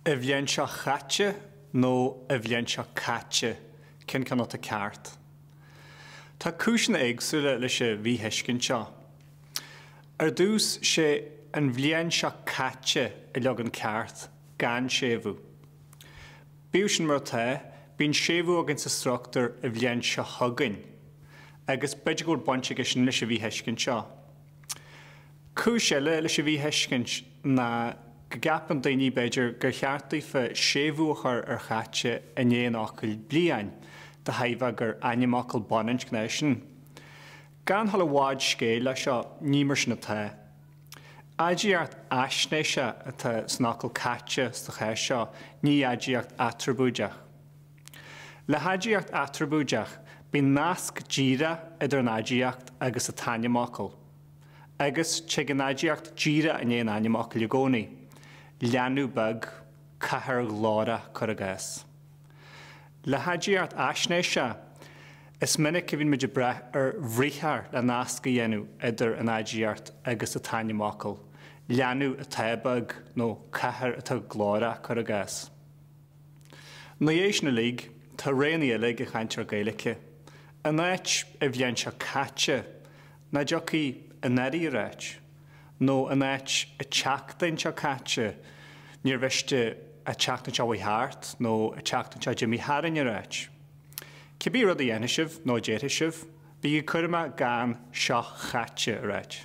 An bhliain seo chaite nó an bhliain seo caite, cén ceann atá ceart? Tá cúiseanna éagsúla leis an mhíthuiscint seo. Ar dtús, sé an bhliain seo caite an leagan ceart, gan séimhiú. Bíodh sin mar atá, bíonn séimhiú againn sa struchtúr an bhliain seo chugainn, agus b'fhéidir go bhfuil baint aige sin leis an mhíthuiscint seo. Cúis eile leis an mhíthuiscint ná go gceapann daoine, b'fhéidir, gur cheart daofa séimhiú a chur ar chaite i ndiaidh an fhocail bliain, de thairbhe gur ainmfhocal baininscneach sin. Gan dul i bhfad scéil leis seo, ní mar sin atá. Aidiacht fhaisnéise atá san fhocal caite sa chás seo, ní aidiacht aitreabúideach. Le haidiacht aitreabúideach, bíonn nasc díreach idir an aidiacht agus an t-ainmfhocal. Agus, tig an aidiacht díreach i ndiaidh an ainmfhocail i gcónaí, leanbh beag, cathair ghlórach, cuir i gcás. Le haidiacht fhaisnéise, is minic a bhíonn muid ag brath ar bhriathar le nasc a dhéanamh idir an aidiacht agus an t-ainmfhocal, leanbh atá beag nó cathair atá glórach, cuir i gcás. Ina dhiaidh sin uilig, tá roghanna eile ag an chainteoir Gaeilge. In áit an bhliain seo caite, nach dtiocfadh anuraidh a ráit, nó in áit an tseachtain seo caite níor mhiste an tseachtain seo a chuaigh thart nó an tseachtain seo d'imigh tharainn a ráit. Cibé rud a dhéanfaidh sibh nó a déarfaidh sibh, bígí cúramach gan seo chaite a ráit.